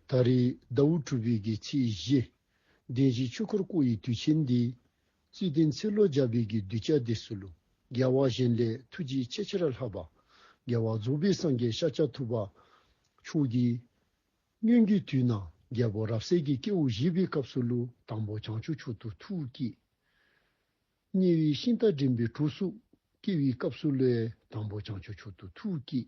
ད་རེས་ཟླ་འུ་དྲུག་པའི་གི་ཚེས་བཞི། བདེན་བཞིའི་ཆོས་འཁོར་བསྐོར་ཡི་དུས་ཆེན་འདི། རྩིས་བསྟན་ཚེ་ལོ་བརྒྱ་པའི་གི་གདུལ་བྱ་འདི་སུ་ལུ་རྒྱལ་བ་གཞན་ལས་ཐུགས་རྗེའི་ཆེ་ཆེར་ལྷག་པ། རྒྱལ་བ་རྫོགས་པའི་སངས་རྒྱས་ཤཱཀྱ་ཐུབ་པ་མཆོག་གིས། སྙོན་རྒྱུད་དུས་ན་རྒྱལ་པོ་རབ་གསལ་གྱི་སྐྱེས་བུ་བཞི་པའི་སྐབས་སུ་ལུ་དང་པོ་བྱང་ཆུབ་མཆོག་ཏུ་ཐུགས་བསྐྱེད། གཉིས་པའི་ཤིང་རྟ་འགྲིམ་པའི་གྲུ་གཟུགས་སྐྱེས་བུའི་སྐབས་སུ་ལུའེ་དང་པོ་བྱང་ཆུབ་མཆོག་ཏུ་ཐུགས་བསྐྱེད།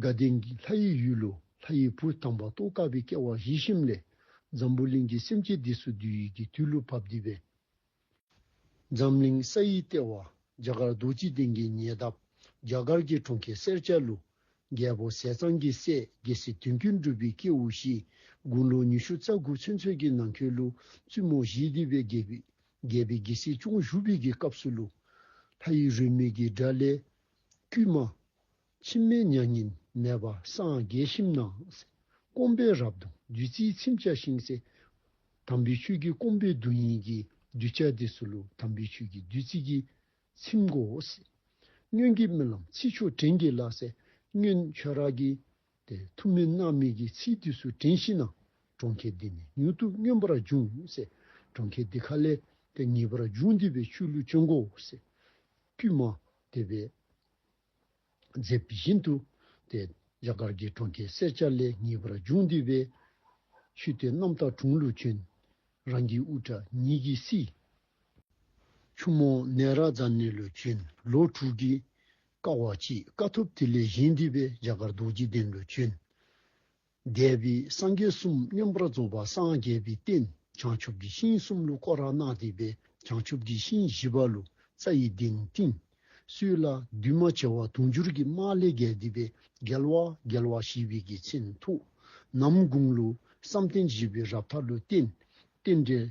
དགའ་ལྡན་གྱི་ལྷ་ཡི་ཡུལ་ལོ་ལྷ་ཡི་བུ་དམ་པ་རྟོགས་དཀའ་བའི་སྐལ་བ་བཞི་བཞིན་ལས་འཛམ་བུ་གླིང་གི་སེམས་ཅན་འདི་སུ་བསྡུས་ཡིད་ཀྱི་དུས་ལུགས་བབ་འདི་བས། འཛམ་གླིང་ས་ཡི་ལྟེ་བ་རྒྱ་གར་རྡོ་རྗེ་གདན་གྱི་ཉེ་འདབས་རྒྱ་གར་གྱི་གྲོང་ཁྱེར་གསེར་ལྕགས་ལུགས་རྒྱལ་པོ་ཟས་གཙང་གི་སྲས་རྒྱལ་སྲིད་དོན་གྱི་འགྲུབ་པའི་སྐྱེས་བུ་བཞི་དགུང་ལོ་ཉི་ཤུ་རྩ་དགུ་ཚུན་ཚོད་ཀྱི་ནང་ཁྱོད་ལུགས་བཙུན་མོ་བཞིས་འདི་བས་རྒྱལ་བུས་རྒྱལ་བའི་རྒྱལ་སྲིད་ཅུང་བཞུགས་པའི་གི་སྐབས་སུ་ལུགས་ལྷ་ཡི་རུས་མིག་གི་དགྲ་ལས། དཀྱུས་མ། ཕྱི་མའི་མྱ་ངན་མེད་པ་སངས་རྒྱས་ཞིམ་སྣང་སེ། སྐོམ་པའི་རབ་གདུང་བདུད་རྩིའི་ཚིམ་བྱ་ཤིང་སེ། དམ་པའི་ཆོས་ཀྱི་སྐོམ་པའི་གདུང་ཡིན་གྱིས་གདུལ་བྱ་དེ་སུ་ལུ་དམ་པའི་ཆོས་ཀྱི་བདུད་རྩི་གྱིས་ཚིམ་གོ། སྙུན་གྱི་རྨི་ལམ་ཚིག་མཆོག་དྲན་གྱིས་བརླག་སེ། སྙུན། ཆོས་རྭ་གྱི་དེ་ཐུབ་མིན་སྣང་མེད་ཀྱི་ཚིག་དུས་སུ་དྲན་ཤེས་ན། གྲོང་ཁྱེར་འདི་ནི་མྱུར་དུ་སྨྱོན་པར་འབྱུང། སྲས་གྲོང་ཁྱེར་འདི་ག་ལས་དེ་ངེས་པར་འབྱུང་བདེ་བའི་ཆུ་ལུད་ཆོས་འགོ། སྲས་དཀྱུས་མ་དེ་བས་མཛེས་པ་བཞིན་དུ། དེ་རྒྱ་གར་གྱི་གྲོང་ཁྱེར་སེར་སྐྱ་ལས་ངེས་པར་འབྱུང་བདེ་བའི་ཆུ་སྟེ་རྣམ་དག་གྲོང་ལུད་ཆོན། རང་གི་དབུ་སྐྲ་ཉིད་ཀྱིས་བསིལ། ཆུ་མོ་ནད་ར་རྫ་ནི་ལུད་ཆོན། ལོ་དྲུག་གི་བཀའ་བ་གཅིག་དཀའ་ཐུབ་ཐིག་ལེ་བཞེངས་འདུས་པས་རྒྱ་གར་རྡོ་རྗེ་གདན་དུ་བྱོན། འདས་པའི་སངས་རྒྱས་གསུམ་སྙོམས་པར་རྫོགས་པ་སངས་རྒྱས་པའི་རྟེན་བྱང་ཆུབ་ཀྱི་ཤིང་གསུམ་ལུ་ཀོ་ར་ནག་བཏེགས་པའི་བྱང་ཆུབ་ཀྱི་ཤིང་བཞི་པ་ལུ་ཙྪ་ཡི་གདན་བཏིང། སུས་ལ་འདུས་མ་བྱས་བ་དུང་ཕྱུར་གྱི་མཎྜལ་བརྒྱད་བསྡུས་པས་རྒྱལ་བ་རྒྱལ་བ་ཞེས་པའི་གི་མཚན་ཐུགས། ནམ་གུང་ལུ་བསམ་གཏན་བཞི་པའི་རབ་མཐའ་ལུ་གཏན། རྟེན་འབྲེལ།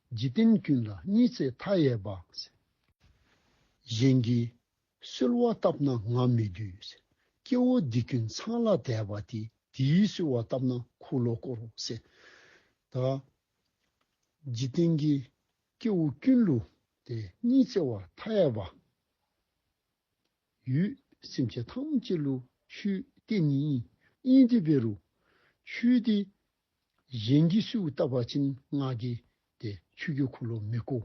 འཇིག་རྟེན་ཀུན་ལ་གཉིས་བརྩེ་མཐའ་ཡས་པ། གཞན་གྱིས་གསོལ་བ་བཏབ་ན་ང་མི་སྡུད། སྐྱེ་བོ་འདི་ཀུན་ཚང་ལ་དད་པ་དེ། དེས་གསོལ་བ་བཏབ་ན་འཁོར་ལོ་བསྐོར། ད་འཇིག་རྟེན་གྱི་སྐྱེ་བོ་ཀུན་ལུས་དེ་གཉིས་བརྩེ་བ་མཐའ་ཡས་པ། ཡུལ་སེམས་ཅན་ཐམས་ཅད་ལུས་ཆུ་གཏེ་གཉིས་དབྱིངས་སྡུད་པའི་རུ། ཆུ་དེ་གཞན་གྱིས་སུས་བཏབ་པ་བྱིན་སྔགས་ཀྱི་དེ་ཆུ་ཀྱི་འཁོར་ལོ་མི་བསྐོ།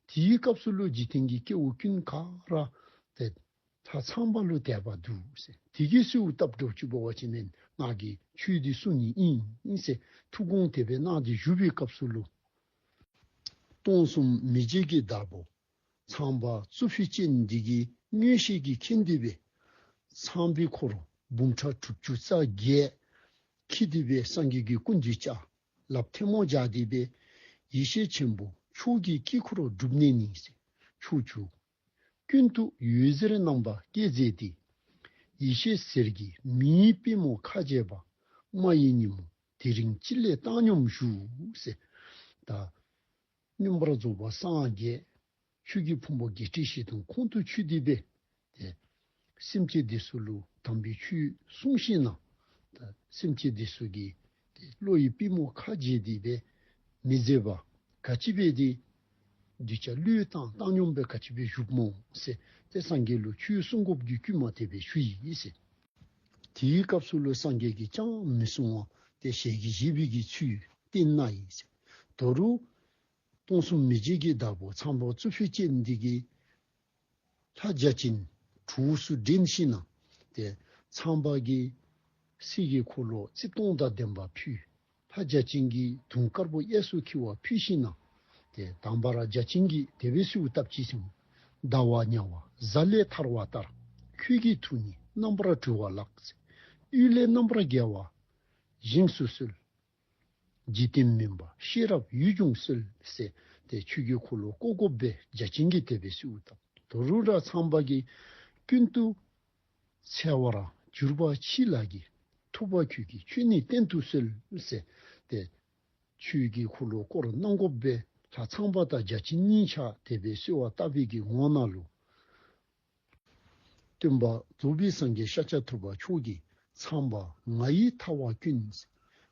དེའི་སྐབས་སུ་ཀླུ་འཇིག་རྟེན་གྱི་སྐྱེ་བོ་ཀུན་དགའ་ར་དེ་ད་ཚངས་པ་ཀླུ་དད་པ་འདུག་ཟེར་དེ་གིས་སུས་བཏབ་འབྲོག་ཆུ་བོ་བ་བྱིན་མན་སྔགས་ཀྱི་ཆུའི་དེ་སུ་ཉིད་ཡིན་ཟེར་ཐུགས་དགོངས་དད་པའི་སྔགས་དེ་བཞུ་བའི་སྐབས་སུ་ཀླུ། སྟོང་གསུམ་མི་མཇེད་ཀྱི་བདག་པོ་ཚངས་པ་རྩུབ་ཤུལ་སྐྱེ་འདི་གའི་སྙུན་གཤེགས་ཀྱི་ཁྱི་འདུས་པའི། ཚངས་པའི་འཁོར་ལོ་འབུམ་ཕྲག་དྲུག་ཅུ་རྩ་བརྒྱད། ཁྱི་འདུས་པའི་སངས་རྒྱས་ཀྱི་སྐུ་འདུས་ལྕགས་ལབ་ཐལ་མོ་ལྗགས་འདུས་པའི། ཡེ་ཤེས་ཆེན་པོ་ཕྱོགས་ཀྱི་དཀྱིལ་འཁོར་བསྒྲུབ་གནས་ནི། ཕྱོགས་བཅུ་ཀུན་ཏུ་ཡུལ་ཟེར་རྣམ་པ་བསྐྱེད་མཛད་དེ། ཡེ་ཤེས་ཟེར་གྱི་མིའི་དཔལ་མོ་ཁ་བཅད་པདྨ་ཡི་ཉིན་མོ་དེ་རིང་སྤྱི་ལེ་བཏང་སྙོམས་བཞུགས། ཟད། སྙོམས་པར་རྫོགས་པར་སངས་རྒྱས། ཆོས་ཀྱི་ཕུང་པོ་བརྒྱད་ཁྲི་བཞི་སྟོང་ཁོང་དུ་ཆུད་དེ་སྟེ། དེ། སེམས་ཀྱི་སྡེ་སྲོལ་ལུགས་དམ་པའི་ཆོས་གསུངས་ཤིང་ན། དེ། སེམས་ཀྱི་སྡེ་སྲོལ་གྱི། དེ། བློ་ཡི་པུས་མོ་ཁ་འབྱེད་དེ། དེ། མི་བཟད་པ། ག་ཅི་པའི་དེ། གདུལ་བྱ་བློའི་བཏང་བཏང་སྙོམས་པའི་ག་ཅི་པའི་བཞུགས་མོ། སེ། དེ་སངས་རྒྱས་ལུགས་ཆོས་གསུང་སྒོ་བརྒྱུད་དཀྱུས་མ་ཐེག་པའི་ཆུ་ཡིས། དེའི་སྐབས་སུ་བློས་སངས་རྒྱས་ཀྱིས་ཅང་མི་གསུང་བ་སྟེ་ཞལ་གྱི་བཞི་པོད་ཀྱི་ཚུལ་བསྟན་ན་ཡིན། དོ་རུ། སྟོང་གསུམ་མི་མཇེད་ཀྱི་བདག་པོ་ཚངས་པོ་གཙོ་ཕུད་ཅེས་འདི་སྐད། ལྷ་བརྒྱ་བྱིན་དྲུག་སུ་འདྲེན་ཤེས་ན། དེ་ཚངས་པ་ཀྱི། སྲས་ཀྱི་འཁོར་ལོ་རྩིབས་སྟོང་དང་ལྡན་པ་ཕུལ། ལྷ་བརྒྱ་བྱིན་གྱིས་དུང་དཀར་པོ་གཡས་སུ་འཁྱིལ་བ་ཕུལ་ཤིང་གནང། དེ་དང་བར་བརྒྱ་བྱིན་གྱིས་དེ་བས་སུའུ་སྟབས་ཀྱིས་ཀྱང། ཟླ་བ་ཉྭ་བ་གཟའ་ལས་ཐར་བ་ལྟར། ཁྱོད་ཀྱི་ཐུགས་ནི་རྣམ་པར་གྲོལ་བ་ལགས། ཚེ་གཡུལ་ལས་རྣམ་པར་རྒྱལ་བ་བཞེངས་སུ་གསོལ། འཇིག་རྟེན་མིན་པ་ཤེས་རབ་ཡུལ་ཀྱང་གསོལ། ཟེར་ཏེ་ཆོས་ཀྱི་འཁོར་ལོ་བཀོག་བཀོག་བརྒྱ་བྱིན་གྱིས་དེ་བས་སུའུ་སྟབས་དོ་རུ་ར་ཚང་བར་གྱིས། ཀུན་ཏུ་ཚལ་བར་གྱུར་པ་མཆིས་ལགས་ཀྱི། ཐུབ་པ་ཁྱོད་ཀྱི་ཆོས་ནི་བསྟན་དུ་གསོལ། ཟེར་ཏེ། ཆོས་ཀྱི་འཁོར་ལོ་བསྐོར་གནང་སྒོ་སྦས་ལྷ་ཚངས་པ་དང་བརྒྱ་བྱིན་གཉིས་ཕྱག་དེད་པས་གསོལ་བ་བཏབ་བས་ཀྱི་ངོ་ན་ལུས། སྟོན་པ་རྫོགས་པའི་སངས་རྒྱས་ཤཱཀྱ་ཐུབ་པ་མཆོག་གིས་ཚངས་པ་ང་ཡི་ཐ་བ་ཀུན།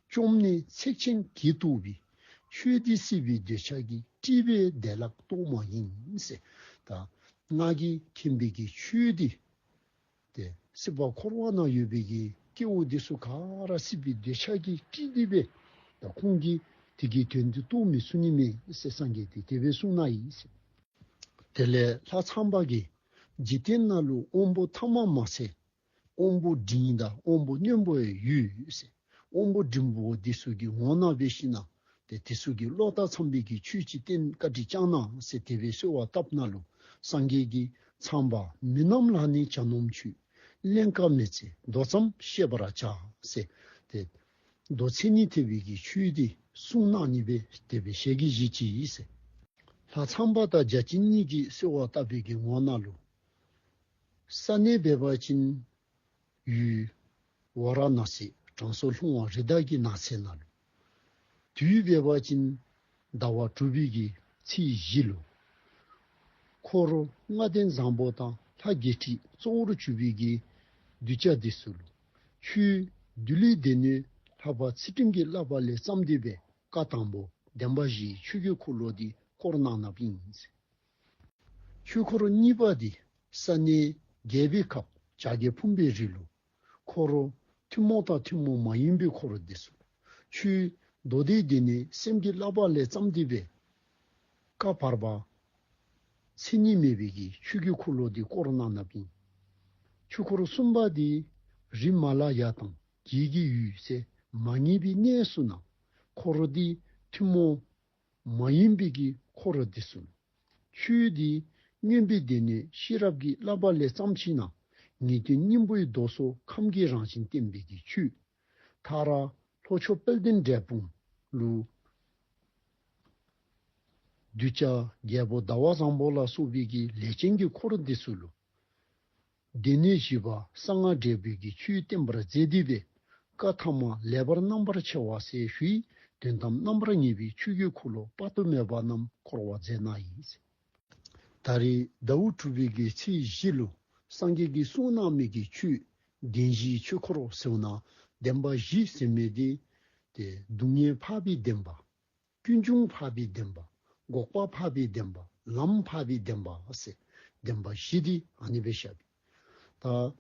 བཅོམ་ནས་ཚེགས་ཆེན་དགྱེས་གཏུགས་པའི། ཆོས་འདི་སྲིད་པའི་འདོད་ཆགས་ཀྱི། དཀྲིས་པའི་བདེ་བླག་རྟོག་མ་ཡིན། དང། སྔགས་ཀྱི་མཁྱེན་པའི་ཀྱི་ཆོས་འདི། ཏེ། སྲིད་པ་འཁོར་བ་ན་ཡོད་པའི་ཀྱི། སྐྱེ་བོ་འདི་སུ་ག་ར་སྲིད་པའི་འདོད་ཆགས་ཀྱི་དཀྲིས་འདི་པའི། དང་ཁོང་གིས་དེ་ཀྱི་དོན་འདི་རྟོགས་མི་གསུང་ནི་མེད། སངས་རྒྱས་ཏེ་དེ་བས་གསུང་ན་ཡིན། དེ་ལས་ལྷ་ཚངས་པ་ཀྱི། འཇིག་རྟེན་ན་ལུས་དབང་པོ་ཐ་མ་མ་ཟད་དབོན་པོ་འབྲིང་ཡིན་ད་དབོན་པོ་སྨྱོན་པོ་ཡི་ཡུས། དབོན་པོ་འབྲིང་པོ་བོ་དེ་སུ་གི་ངོ་ན་བེ་ཤི་ན། དེ་དེ་སུ་གི་ལོག་ལྟ་ཚངས་པས་གི་ཆོས་ཅི་སྟེན་བཀའ་དྲི་བཅང་ན་སེ་དེ་བས་གསོལ་བ་བཏབ་ན་ལུ་སངས་རྒྱས་ཀྱི། ཚངས་པ་མི་རྣམས་ལ་ནི་བྱ་ནོམ་ཆུས། གླན་བཀའ་མེད་ཚེ་མདོ་ཙམ་བཤད་པ་ར་བྱ་སེ། དེ། མདོ་ཚིག་ནི་དེ་བས་གི་ཆོས་དེ་གསུང་ན་ནི་བེ་དེ་བས་བཤད་གི་གཞི་ཅི་ཡིས། ལྷ་ཚངས་པ་དང་བརྒྱ་བྱིན་གཉིས་ཀྱིས་གསོལ་བ་བཏབ་པས་གི་ངོ་ན་ལུ། ས་གནས་བལ་བ་ཅིན། ཡུལ། ཝཱ་ར་ནཱ་སི་གྲང་སོ་ལྷུང་བ་རི་དྭགས་ཀྱི་ནགས་ཚལ་ན་ལུས། དུས་བལ་བ་ཅིན། ཟླ་བ་དྲུག་བུས་ཀྱི་ཚེས་བཞི་ལོ། འཁོར་ལོ་ལྔ་ལྡན་བཟང་པོ་དང་ལྷ་བརྒྱད་ཁྲི་གཙོ་བོར་བཅུ་བུས་ཀྱི་གདུལ་བྱ་འདི་སུ་ལུ་ཆུའི་བདུད་ལས་སྡེ་སྣོད་ལྷག་པ་ཚེ་སྤྲིན་གྱིས་བརླབས་པ་ལས་བརྩམས་འདུས་པའི་བཀའ་དང་པོ་བདེན་པ་བཞིའི་ཆོས་རྒྱུད་འཁོར་ལོ་འདི་བསྐོར་གནང་ནམ་ཨིནས། ཆོས་འཁོར་གཉིས་པ་འདི་ས་གནས་རྒྱལ་བའི་ཁབ་བྱ་རྒྱལ་ཕུམ་པའི་རི་ལུ་འཁོར་རོ། ཐུན་མོང་དང་ཐུན་མོང་མ་ཡིན་པའི་འཁོར་རོ་འདི་སོ། ཆུའི་མདོ་སྡེ་འདི་ནི་སེམས་ཀྱི་བསླབ་པ་ལས་བརྩམས་ཏེ་བའི་ཀ་བར་པ། མཚན་ཉིད་མེད་པའི་གིས་ཆོས་ཀྱི་འཁོར་ལོ་འདི་བསྐོར་རོ་གནག་སྣབས་ཡིན། ཆོས་འཁོར་གསུམ་པ་འདི་རི་མ་ལ་ཡ་དང་རྒྱལ་གྱི་ཡུལ་སའི་མ་ངེས་པའི་གནས་སུ་ནང་འཁོར་རོ་འདི་ཐུན་མོང། མ་ཡིན་པའི་དཀྱིལ་འཁོར་རབ་འདི་གསུངས། ཆོས་འདི་སྨྱོན་པའི་སྡེ་ནས་ཤེས་རབ་ཀྱི་བསླབ་པ་ལས་བརྩམས་ཕྱིན་ན། ངེས་དོན་སྙིང་པོའི་མདོ་སོ་ཁམས་ཀྱི་རང་བཞིན་བསྟན་པའི་དེ་ཆུད། ཐག་ར། ལྷོ་ཕྱོགས་དཔལ་ལྡན་འབྲས་སྤུངས་ཀླུ། གདུལ་བྱ་རྒྱལ་པོ་ཟླ་བ་བཟང་པོ་ལ་སོགས་པའི་ཀྱི་ལས་ཅན་གྱི་འཁོར་འདི་སུ་ལུ། སྡེ་སྣོད་བཞི་པ་གསང་སྔགས་འབྲས་བུ་ཀྱི་ཆུས་བརྟན་པར་མཛད་དུས་པའི་བཀའ་ཐ་མ་ལེགས་པར་རྣམ་པར་ཕྱེ་བ་སའི་ཧུད་དོན་དམ་རྣམ་པར་ངེས་པའི་ཆུ་ཁྱུད་འཁོར་ལོ་དཔག་ཏུ་མེད་པ་རྣམས་འཁོར་བར་མཛད་ན་ཡིན། ད་རེས་ཟླ་བོ་དྲུག་པའི་དགེ་ཚེས་བཞི་ལོ་སངས་རྒྱས་ཀྱི་གསུང་སྣང་མེད་ཀྱི་ཆུས་བདེན་བཞིའི་ཆོས་འཁོར་བསྲེ་བ་ན་བདེན་པ་བཞི་ཟིན་མོད་དེ། སྡུག་བསྔལ་འཕགས་པའི་བདེན་པ། ཀུན་འབྱུང་འཕགས་པའི་བདེན་པ། འགོག་པ་འཕགས་པའི་བདེན་པ། ལམ་འཕགས་པའི་བདེན་པ། བདེན་པ་བཞི་སྟེ་ནི་བའི་ཞབས་པད་དང།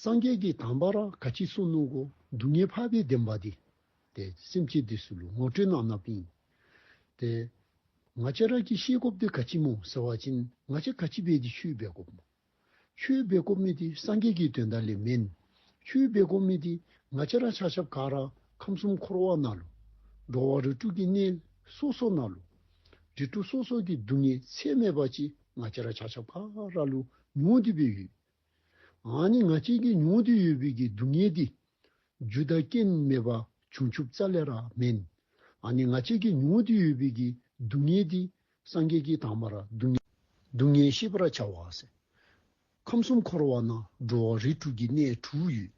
སངས་རྒྱས་ཀྱི་དམ་པ་ར་ག་ཅི་སོ་ནུ་གོ། སྡུག་བསྔལ་འཕགས་པའི་བདེན་པ་སྟེ། དེ་སེམས་བསྐྱེད་དེ་སུ་ལུ་ངོ་སྤྲོད་ན་ན་པིན། དེ། ང་ཅག་ར་གི་ཤེས་སྒོ་བདེ་ག་ཅི་མོ་ཟེ་བ་ཅིན་ང་ཅག་ག་ཅི་བས་ཀྱི་ཆུའི་བས་སྒོ་མོ། ཆུའི་སྦས་སྐོར་མི་དེ་སངས་རྒྱས་ཀྱི་དོན་དག་ལས་མིན། ཆུའི་སྦས་སྐོར་མི་དེ་ང་ཅི་རང་ཆགས་ཆབ་གང་རང་ཁམས་གསུམ་འཁོར་བ་ན་ལོ། འགྲོ་བ་རིགས་དྲུག་གི་གནས་སོ་སོ་ན་ལོ། རིགས་དྲུག་སོ་སོ་གི་སྡུག་བསྔལ་ཚད་མེད་པ་ཅི་ང་ཅི་རང་ཆགས་ཆབ་གང་རང་ལུས་མྱོང་དུས་པས་ཡོད། འང་ནི་ང་ཅི་གིས་མྱོང་དུས་ཡོད་པའི་གི་སྡུག་བསྔལ་དེ། རྒྱུ་དང་རྐྱེན་མེད་པ་བྱུང་ཆུབ་རྩ་ལས་རང་མིན། འང་ནི་ང་ཅི་གིས་མྱོང་དུས་ཡོད་པའི་གི་སྡུག་བསྔལ་དེ། སངས་རྒྱས་ཀྱི་དངས་མ་ར་སྡུག་བསྔལ། སྡུག་བསྔལ་ཤེས་པར་བྱ་བ། ཁམས་གསུམ་འཁོར་བ་ན་འགྲོ་བ་རིགས་དྲུག་གི་གནས་དྲུག་ཡོད།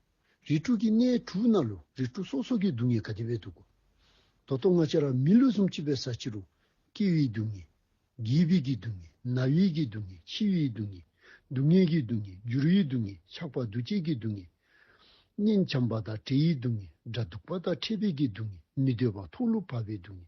རིགས་དྲུག་གི་གནས་དྲུག་ན་ལུས་རིགས་དྲུག་སོ་སོ་གི་སྡུག་བསྔལ་ག་དེ་བས་སྡུག་གོ། དོ་ཏོ་ང་ཅག་ར་མི་ལུས་གསུམ་གཅིག་པའི་ས་ཕྱི་རུ། སྐྱེ་བའི་སྡུག་བསྔལ། རྒས་པའི་གི་སྡུག་བསྔལ། ན་བའི་གི་སྡུག་བསྔལ་འཆི་བའི་སྡུག་བསྔལ། སྡུག་བསྔལ་གི་སྡུག་བསྔལ་འགྱུར་བའི་སྡུག་བསྔལ་ཆགས་པ་འདུ་བྱེད་ཀྱི་སྡུག་བསྔལ། གཉེན་བྱམས་པ་དང་བྲལ་ཡི་སྡུག་བསྔལ་དགྲ་སྡུག་པ་དང་ཕྲད་པའི་གི་སྡུག་བསྔལ་མི་འདོད་པ་མཐོང་ལུགས་བར་པའི་སྡུག་བསྔལ་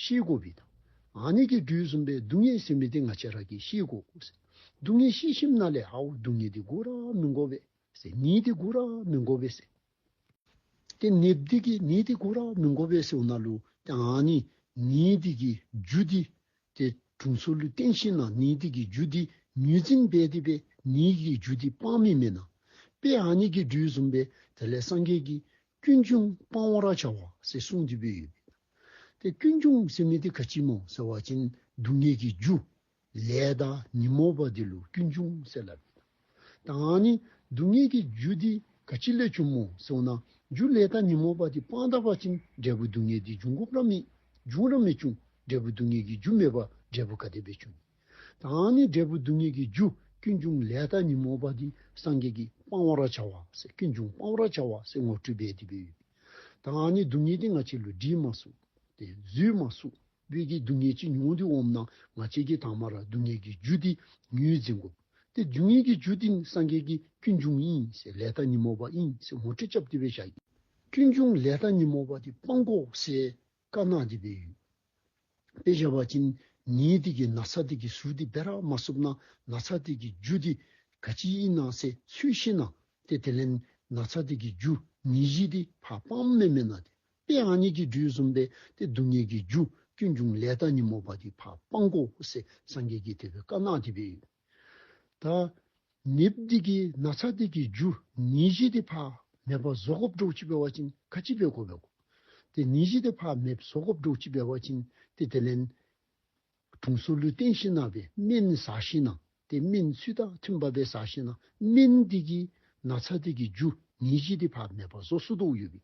ཤེས་བསྒོ་བས་དང། ཨ་ནི་ཀའི་འབྲུའི་སུམ་པའི་སྡུག་བསྔལ་སེམས་མི་དེ་ང་ཅི་རག་གིས་ཤེས་བསྒོ། སྡུག་བསྔལ་ཤེས་ཤིམ་ན་ལས་ཧཱུྃ་སྡུག་བསྔལ་དེ་བསྒོ་ར་མི་བསྒོ་བས། ནི་དེ་བསྒོ་ར་མི་བསྒོ་བས། ཏེ་ནི་བདུད་ཀྱི་ནི་དེ་བསྒོ་ར་མི་བསྒོ་བས་སེའུ་ན་ལུ། ཏེ་ཨ་ནི་ནི་བདུད་ཀྱི་རྒྱུ་འདི། ཏེ་དྲུང་མཚོ་ལུས་སྟེང་ཤིན་ན་ནི་བདུད་ཀྱི་རྒྱུ་འདི་མྱུར་འཛིན་སྦས་ཏེ་པས་ནི་ཀྱི་རྒྱུ་འདི་སྤང་མི་མེད་ན། པས་ཨ་ནི་ཀའི་འབྲུའི་སུམ་པས་དེ་ལས་སངས་རྒྱས་ཀྱི་སྐྱོན་ཅུང་སྤང་བ་ར་བྱ་བ་སེ་གསུངས་འདི་བོད་ཡུལ་པས་དང། ཏེ་སྐྱོན་ཅུང་ཟད་མེད་དེ་ཁ་ཅིག་མོ་ཟེར་བ་ཅན་སྡུག་བསྔལ་གྱི་རྒྱུ་ལས་བདག་ཉིད་མོ་བ་དེ་ལུས་སྐྱོན་ཅུང་ཟད་སླ་བས་དང་ཡང་ནི་སྡུག་བསྔལ་གྱི་རྒྱུ་དེ་ཁ་ཅིག་ལས་བྱུང་མོ་ཟེར་ན་རྒྱུ་ལས་བདག་ཉིད་མོ་བ་དེ་སྤང་དག་པ་ཅན་འབྲས་བུ་སྡུག་བསྔལ་དེ་འབྱུང་གོ་ར་མེད་འབྱུང་ར་མེད་བྱུང་འབྲས་བུ་སྡུག་བསྔལ་གྱི་རྒྱུ་མེད་པ་འབྲས་བུ་ག་དེ་བས་བྱུང་ནས། དང་ནི་འབྲས་བུ་སྡུག་བསྔལ་གྱི་རྒྱུ་ཀུན་འབྱུང་ལས་བདག་ཉོན་མོངས་པ་འདི་སངས་རྒྱས་ཀྱིས་སྤང་བར་བྱ་བ་ཀུན་འབྱུང་སྤང་བར་བྱ་བ་ངོ་སྤྲོད་པའི་དེ་བུ། དང་ནི་སྡུག་བསྔལ་དེ་ང་ཆེ་ལུས་དྲི་མ་གཟུགས་ཏེ་རྫུས་མ་གཟུགས་བོད་ཀྱི་སྡུག་བསྔལ་ཅི་མྱོང་འདི་འོམ་ན་ང་ཆེ་གི་དྭངས་མ་ར་སྡུག་བསྔལ་གྱི་རྒྱུ་འདི་ཉོན་ཟིན་གོ། དེ་སྡུག་བསྔལ་གྱི་རྒྱུ་འདི་ནི་སངས་རྒྱས་ཀྱིས་ཀུན་འབྱུང་ཡིན་ཟེར་ལས་བདག་ཉོན་མོངས་པ་ཡིན་ཟེར་ངོ་སྤྲོད་བྱ་བ་དེ་བས་བྱ། ཀུན་འབྱུང་ལས་བདག་ཉོན་མོངས་པ་འདི་སྤང་གོ་ཟེར་དཀར་ནག་གི་སྦས་ཡུལ། དཔེ་བྱ་བ་ཅན་ཉིད་སྟེགས་ཀྱི་ན་ཚ་སྟེགས་ཀྱི་ཟུར་འདི་སྦས་རག་མ་བསུབ་ན་ན་ཚ་སྟེགས་ཀྱི་རྒྱུ་འདི་ག་ཅི་ཡིན་ནང་གསེས་ཚུལ་ཤེས་ན་སྟེ་དེ་ལན་ན་ཚ་སྟེགས་ཀྱི་རྒྱུ་ཉིད་བཞི་སྟེ་ཕ་སྤང་སྨེ་མེད་ན་སྟེ་དཔེ་ཨང་ཉིད་ཀྱི་འབྲུ་གསུམ་སྦས་ཏེ་སྡུག་བསྔལ་གྱི་རྒྱུ་ཀུན་འབྱུང་ལས་ད་ཉིན་མོ་བ་འདི་ཕ་སྤང་ཀོ་ཧུ་སེ་སངས་རྒྱས་ཀྱི་དེ་བས་དཀར་ནག་གི་སྦས་ཡུལ། ད། ནེབ་སྡིག་གི་ན་ཚ་སྡིག་གི་རྒྱུ་ནི་བཞི་སྟེ་ཕ་མེས་པ་བཟོ་ཁོབ་འབྲོག་སྤྱི་པའི་བ་ཅིན་ཁ་སྤྱི་པའི་ཁོ་བའི་གོ། དེ་ནི་བཞི་སྟེ་ཕ་མེས་བཟོ་ཁོབ་འབྲོག་སྤྱི་པའི་བ་ཅིན་ཏེ་དེ་ལན། དྲུང་སོ་ལུས་བརྟན་ཤིང་ནག་པའི་སྨན་ནི་ཟ་ཤིང་ནག་སྟེ་སྨན་ཚུལ་དང་མཐུན་པ་པའི་ཟ་ཤིང་ནག་སྨན་སྡིག་གི་ན་ཚ་སྡིག་གི་རྒྱུ་ནི་བཞི་སྟེ་ཕ་མེས་པ་བཟོ་སོ་དུག་ཡོད་པའི་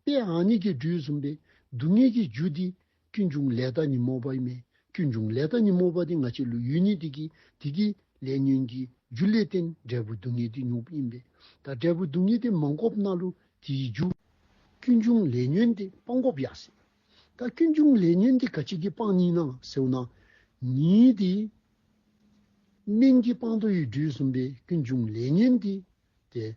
དཔེ་ཨ་ནི་གྱི་འབྲུས་བཟུང་པའི་སྡུག་བསྔལ་གྱི་རྒྱུ་སྡིག་ཀུན་འབྱུང་ལས་བདག་ཉིད་སྨོས་པ་ཡིན་མོད་ཀུན་འབྱུང་ལས་བདག་ཉིད་སྨོས་པ་དེ་ང་ཆེ་ལུགས་ཡུལ་ཉིད་དེ་ཀྱི་དེ་ཀའི་ལས་ཉོན་གྱི་རྒྱུ་ལས་རྟེན་འབྲས་བུ་སྡུག་བསྔལ་དེ་ཉོན་པོ་ཡིན་པས་དང་འབྲས་བུ་སྡུག་བསྔལ་དེ་མ་འགོག་ན་ལུགས་དེའི་རྒྱུ། ཀུན་འབྱུང་ལས་ཉོན་དེ་སྤང་འགོག་ཡག་སྲིད། ད་ཀུན་འབྱུང་ལས་ཉོན་དེ་ག་ཅིག་གིས་སྤང་ཉིད་ན་ཟེའུ་ན་ཉིད་དེ། སྨན་གྱིས་སྤང་དུ་ཡི་འབྲུའི་ཟུམ་པའི་ཀུན་འབྱུང་ལས་ཉོན་དེ། དེ།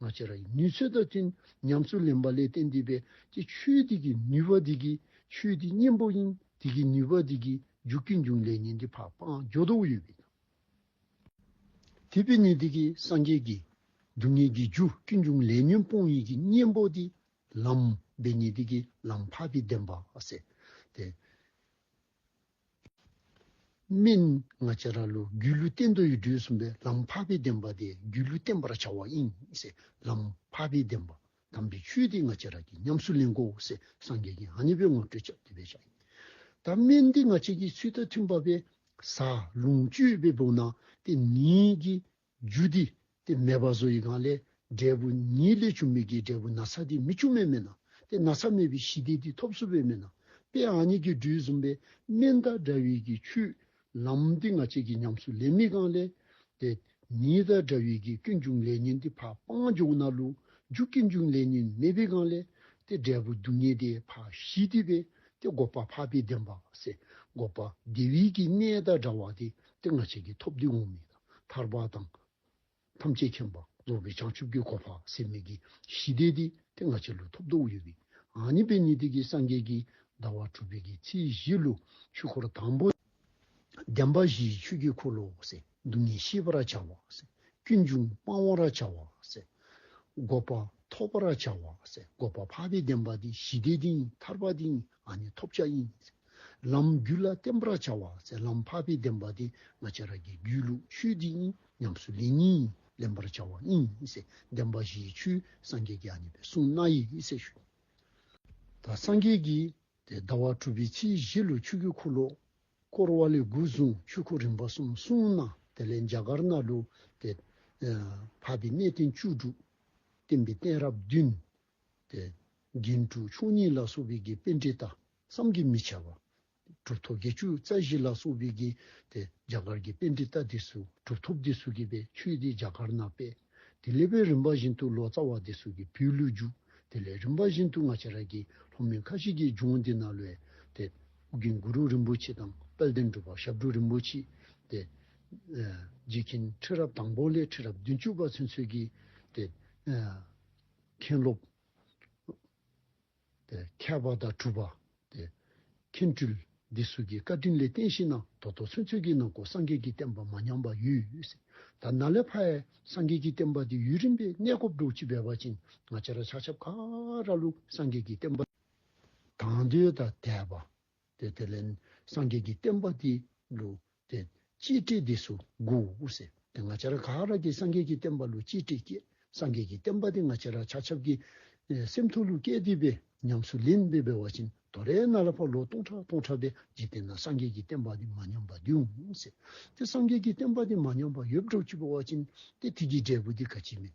ང་ཅི་ར་ཡི་ནུས་ཚོད་དང་བསྟུན་ཉམས་སུ་ལེན་པ་ལས་བསྟན་འདུས་པས་ཀྱི་ཆོས་དེ་གི་ནུས་པ་དེ་གི་ཆོས་དེ་གཉེན་པོ་ཡིན་དེ་གི་ནུས་པ་དེ་གི་འཇུག་གི་འབྱུང་ལས་ཉན་དེ་འཕགས་པའང་སྦྱོར་དུ་ཡོད་པས་དང། དེ་པས་ནི་དེ་གི་སངས་རྒྱས་ཀྱི་སྡུག་བསྔལ་གྱི་འཇུག་གི་འབྱུང་ལས་ཉོན་སྤོང་ཡིན་གྱི་གཉེན་པོ་དེ་ལམ་པས་ནི་དེ་གི་ལམ་འཕགས་པའི་བདེན་པ་སེ་སྟེ། སྨན། སྔ་ཕྱི་ར་ལུགས་སྒྱུ་ལུས་བསྟན་དོན་ཡུལ་དུས་གསུམ་པའི་ལམ་འཕགས་པའི་བདེན་པ་སྟེ་སྒྱུ་ལུས་བསྟན་པར་བྱ་བ་དབྱིངས་སེ་ལམ་འཕགས་པའི་བདེན་པ་དམ་པའི་ཆོས་འདི་སྔ་ཕྱི་ར་གྱི་ཉམས་སུ་ལེན་གོ་སེ་སངས་རྒྱས་ཀྱི་ཨ་ནི་པའི་ངོ་སྤྲོད་ཆབ་དེ་བས་བྱ་ཡིན། ད་སྨན་འདི་སྔ་ཕྱི་ཀྱི་ཚུལ་དང་མཐུན་པ་བས་ས་ལུང་སྤྱོད་པའི་བུམ་ནང་སྟེ་ནི་གྱི་རྒྱུ་འདི་སྟེ་མེད་པ་བཟོ་ཡི་གང་ལས་འབྲས་བུ་ཉིད་ལས་བྱུང་མི་དགེའི་འབྲས་བུ་ན་ཚ་དེ་མི་བྱུང་མེད་མེད་ན་དེ་ན་ཚ་མེད་པའི་གཞི་དེ་དེ་ཐོབ་བཟོ་བས་མེད་ན་དཔེ་ཨ་ཉིད་ཀྱི་འབྲུའི་བཟུང་བས་སྨན་དང་འདྲ་བས་ཀྱི་ཆུ། ལམ་དེ་ང་ཅད་ཀྱི་ཉམས་སུ་ལེན་མི་གང་ལས། དེ་ཉིད་དང་འདྲ་བས་ཀྱི་ཀུན་འབྱུང་ལས་ཉིད་འདི་འཕགས་སྤང་འབྱུང་ན་ལུ་འཇུག་ཀུན་འབྱུང་ལས་ཉིད་མེད་པའི་གང་ལས། དེ་འབྲས་བུ་སྡུག་བསྔལ་དེ་འཕགས་གཞི་དེ་བས་དེ་འགོག་པ་འཕགས་པའི་བདེན་པ་བསལ་འགོག་པ་དེ་བས་ཀྱི་གནས་དང་འདྲ་བ་དེ་དེ་ང་ཅད་ཀྱི་ཐོབ་དུས་འོང་མི་གང། ཐར་པ་དང། ཐམས་ཅད་མཁྱེན་པ་རྫོགས་པའི་བྱང་ཆུབ་ཀྱི་གོ་འཕགས་སེམས་མེད་ཀྱི་གཞི་བདེ་སྟེ་དེ་ང་ཆེ་ལོ་ཐོབ་རྡོག་གཡོ་བའི་ངང་ཉིད་པས་ཉི་ཟླའི་གེགས་སངས་རྒྱས་ཀྱི་ཟླ་བ་དྲུག་པའི་གེགས་ཚེས་བཞི་ལོ་ཆོས་འཁོར་དང་པོ། བདེན་པ་བཞིའི་ཆོས་ཀྱི་འཁོར་ལོ། སྡུག་བསྔལ་ཤེས་པར་བྱ་བ། ཀུན་འབྱུང་སྤང་བར་བྱ་བ། འགོག་པ་ཐོབ་པར་བྱ་བ། འགོག་པ་འཕགས་པའི་བདེན་པ་སྟེ་གཞི་བདེ་དེ་ཉིད་ཐར་པ་དེ་ཉིད་ང་ནི་ཐོབ་བྱ་ཡིན། ལམ་རྒྱུད་ལ་བརྟེན་པར་བྱ་བ་སའི་ལམ་འཕགས་པའི་བདེན་པ་དེ་ང་ཅི་ར་གི་རྒྱུད་ལུགས་ཆོས་འདི་ཡིན་སྙམ་སུ་ལས་གཉིས་ལེན་པར་བྱ་བ་གཉིས་སའི་བདེན་པ་བཞིའི་ཆོས་སངས་རྒྱས་ཀྱི་ཨ་ནི་པའི་གསུང་སྣ་ཡི་སའི་ཞུ་བ་སངས་རྒྱས་ཀྱི་དེ་ཟླ་བ་གྲུབ་པའི་ཚེས་བཞི་ལོ་ཆུ་ཁྱུད་འཁོར་ལོ་བསྐོར་བ་ལས་དགུ་བཟུང་ཆོས་འཁོར་རིམ་པ་གསུམ་གསུངས་ན་དེ་ལས་འཇའ་གར་སྣ་ལུ་སྟེ། འཕགས་པའི་གནས་བརྟན་བཅུ་དྲུག། བརྟན་པའི་གཏན་རབས་བདུན། དགེ་འཁྲུགས་ཆོས་ཉིད་ལ་སོགས་པའི་དགེ་སྤེལ་འབྲས་རྟགས་བསམ་གྱིས་མི་ཁྱབ་པ། གྲུབ་ཐོབ་བརྒྱད་ཅུ་རྩ་བཞི་ལ་སོགས་པའི་གིས་ཏེ་རྒྱ་གར་གྱི་དཔེ་འདི་ལྟ་སྟེ་སུ་གྲུབ་ཐོབ་སྟེ་སུ་གི་པའི་ཆོས་དེ་རྒྱ་གར་ན་དཔེ་དེ་ལེགས་པའི་རིམ་པ་བཞིན་དུ་ལོ་ཙཱ་བ་དེ་སུ་གི་བུའི་ལུས་རྒྱུགས་དེ་ལས་རིམ་པ་བཞིན་དུ་ང་ཅཱ་ར་གི་ལྷོ་མོན་ཁ་ཤས་ཀྱི་ལྗོངས་འདི་ན་ལོས་ཏེ་ཨུ་གིན་གུ་རུ་རིན་པོ་ཆེ་དང་དཔལ་ལྡན་སྒྲུབ་པ་ཞབས་དྲུང་རིན་པོ་ཆེ་ཏེ། རྗེ་མཁན་ཁྲི་རབས་དང་པོ་ལས་ཁྲི་རབས་བདུན་བཅུ་པ་ཚུན་ཚོད་ཀྱི་ཏེ། མཁན་སློབ། ཁྱབ་པ་དང་གྲུབ་པ། མཁན་སྤྲུལ། འདི་སུ་ཀྱི་བཀའ་དྲིན་ལས་བསྟན་ཞེས་ན་དོ་དོ་ཚོན་ཚོན་གྱིས་གནང་སྐོར་སངས་རྒྱས་ཀྱི་བསྟན་པ་མ་ཉམས་པ་ཡུལ་ད་ན་ལས་ཕ་ཡས་སངས་རྒྱས་ཀྱི་བསྟན་པ་འདི་ཡུལ་རིམ་པས་གནས་སྐོར་སྒྲུབ་བྱེད་འབད་པ་ཅིང་ང་ཅི་ར་ཆག་ཆབ་ཁ་ར་ལུག་སངས་རྒྱས་ཀྱི་བསྟན་པ་དང་དུས་དང་དད་པ། དེ་ལས་སངས་རྒྱས་ཀྱི་བསྟན་པ་འདི་ལུག་དེ་ཅི་སྟེ་འདི་སུ་མགུ་འུ་ཟེར་དེ་ང་ཅ་ར་ག་ར་གི་སངས་རྒྱས་ཀྱི་བསྟན་པ་ལུ་ཅི་སྟེ་སྐྱེས་སངས་རྒྱས་ཀྱི་བསྟན་པ་དེ་ང་ཅ་ར་ཆ་ཆབ་ཀྱི་སེམས་ཐུགས་ལུ་སྐད་བསྡུས་པས་ཉམས་སུ་ལེན་བས་བའི་བ་བཞིན་དོ་རེ་ན་ལ་ཕ་ལོ་སྟོང་ཕྲག་སྟོང་ཕྲག་པའི་འཇིག་རྟེན་ན་སངས་རྒྱས་ཀྱི་བསྟན་པ་དེ་མ་ཉམས་པ་འདུས་འུ་ཟེར་དེ་སངས་རྒྱས་ཀྱི་བསྟན་པ་དེ་མ་ཉམས་པ་ཡོད་བྲོ་གཅིག་པའི་བ་བཞིན་ཏེ་ཐིག་གི་འབྲས་བུ་དེ་ག་ཅི་མིན།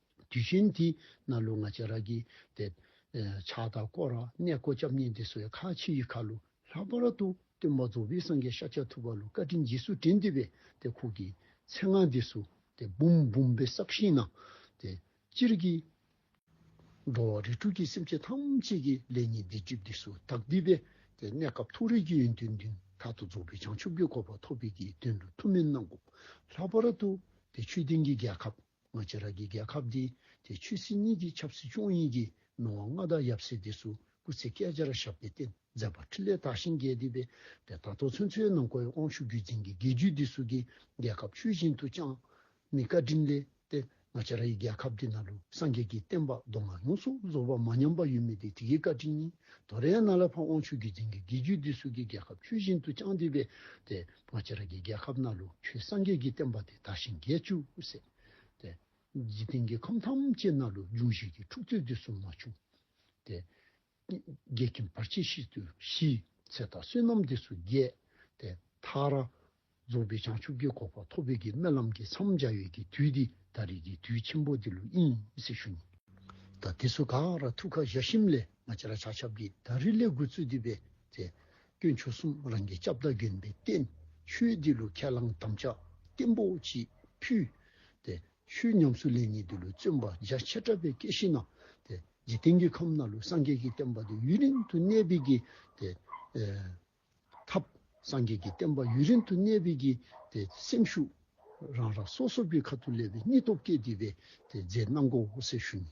དུས་གཞན་དེའི་སྣ་ལུ་ལྔ་ཅན་ར་གི་སྟེ། ཕྱག་དང་བསྐོར་ར་གནས་བསྐོར་སྐྱབས་གཉིས་འདི་སོ་ཡི་ཁ་ཕྱི་ཡི་ཁ་ལུ་ལྷག་པ་ར་ཏུ་སྟོན་པ་རྫོགས་པའི་སངས་རྒྱས་ཤཱ་ཀྱ་ཐུབ་པ་ལུ་བཀའ་དྲིན་རྗེས་སུ་དྲན་འདི་བས་ཏེ་ཁུག་གི་ཚེ་སྔགས་འདི་སུ་སྟེ་བུམ་བུམ་པའི་སྲབ་ཤིང་ན་སྟེ། སྤྱིར་གྱི། འགྲོ་བ་རིགས་དྲུག་གི་སེམས་ཅན་ཐམས་ཅད་ཀྱི་ལས་ཉིད་བདེ་སྐྱིད་འདི་སུ་དག་འདི་བས་ཏེ་གནས་སྐབས་ཐུགས་རེ་ཅི་ཡོད་འདི་མདུན་ཐག་ཏུ་རྫོགས་པའི་བྱང་ཆུབ་ཀྱི་གོ་བ་ཐོབ་པའི་དགེ་འདུན་རུ་ཐུགས་མན་སྣ་འགུགས་ལྷག་པ་ར་ཏུ་སྟེ་ཆོས་ལྡན་གྱི་རྒྱལ་ཁབ། སྔོན་ཕྱི་རག་གི་རྒྱལ་ཁབ་འདི་དེ་ཆོས་སྲིད་གཉིས་ཀྱི་ཆབ་སྲིད་ཆོས་དབྱིངས་ཀྱི་སྣང་བ་མངའ་བདག་ཡབ་སྲས་འདི་སུ་སྐུ་ཚེ་བསྐལ་བརྒྱར་བཞག་པའི་རྟེན་མཛད་པ་ཕྲིན་ལས་དག་ཞིང་རྒྱས་འདུས་པའི་དེ་དག་ཐོས་མཚོན་ཚོའི་ནང་ཀོའི་དབང་ཕྱུག་རྒྱུད་འཛིན་གྱི་དགེ་བཅུའི་འདི་སུ་ཀའི་རྒྱལ་ཁབ་ཆོས་བཞིན་དུ་བསྐྱངས། མི་ཀ་ཕྲིན་ལས་ཏེ་སྔ་ཕྱི་ར་ཡི་རྒྱལ་ཁབ་འདི་ན་ལུ་སངས་རྒྱས་ཀྱི་བསྟན་པ་མདོ་སྔགས་ཡོངས་སུ་རྫོགས་པ་མ་ཉམས་པ་ཡུལ་མི་དེ་དེ་ཀའི་ཀ་ཕྲིན་ཉིད་དོ་རེངས་ན་ལ་ཕམ་དབང་ཕྱུག་རྒྱུད་འཛིན་གྱི་དགེ་བཅུའི་འདི་སུ་ཀའི་རྒྱལ་ཁབ་ཆོས་བཞིན་དུ་བསྐྱངས་འདུས་པའི་དེ། ཕོ་ཆེ་ར་གི་རྒྱལ་ཁབ་ན་ལུ་ཁྱུའི་སངས་རྒྱས་ཀྱི་བསྟན་པ་དེ་དར་ཞིང་རྒྱས་བཅུག་སྲིད་དེ། འཇིག་རྟེན་གྱི་ཁམས་ཐམས་ཅད་ན་ལུ་འབྱུང་བཞི་ཀྱི་འཁྲུགས་རྩོད་དུས་སུ་མ་བྱུང་སྟེ། རྒྱལ་ཁྱིམ་བར་ཆད་ཤིས་དུས་ཞི། ཚེ་དང་བསོད་ནམས་དུས་སུ་རྒྱས། དེ་མཐར། རྫོགས་པའི་བྱང་ཆུབ་ཀྱི་གོ་འཕང་ཐོབ་བོད་ཀྱི་རྨི་ལམ་གྱི་མཚམས་སྦྱར་ཡོད་ཀྱི་དུས་འདི་ད་རེས་ཀྱི་དུས་ཆེན་པོ་འདི་ལོ་དབྱིན་སི་ཞུ་ཉིན་ཟླ་དུས་སུ་གངས་ར་ཐུགས་ཁ་བཞག་ཤིམ་ལས་ང་ཅི་ར་བྱ་ཆབ་ཀྱི་ད་རི་ལས་དགོས་ཚུལ་འདུས་པས་དེ་སྐྱོན་ཆོས་གསུམ་རང་གི་ལྕགས་བརྡ་གྱོན་པའི་རྟེན། ཆོས་འདི་ལུས་ཁས་བླངས་དམ་བཅའ་བརྟན་པོ་གཅིག་ཕུལ། དེ་ཆོས་ཉམས་སུ་ལེན་ནས་འདི་ལུས་བརྩོན་པ་རྒྱ་ཆེར་བྲབ་པའི་སྐད་བཞིན། དེ་འཇིག་རྟེན་གྱི་ཁམས་ན་ལུས་སངས་རྒྱས་ཀྱི་བསྟན་པ་དེ་ཡུན་རིང་དུ་གནས་པའི་གྱི། དེ་ཐབས་སངས་རྒྱས་ཀྱི་བསྟན་པ་ཡུན་རིང་དུ་གནས་པའི་གྱི། དེ་སེམས་ཤུགས་རང་རང་སོ་སོ་པའི་ཁ་ཐུག་ལས་པའི་སྙིང་སྟོབས་སྐྱེད་དེ་བས་དེ་རྫས་སྣ་འགོག་འོད་གསལ་ཤུགས་ནི།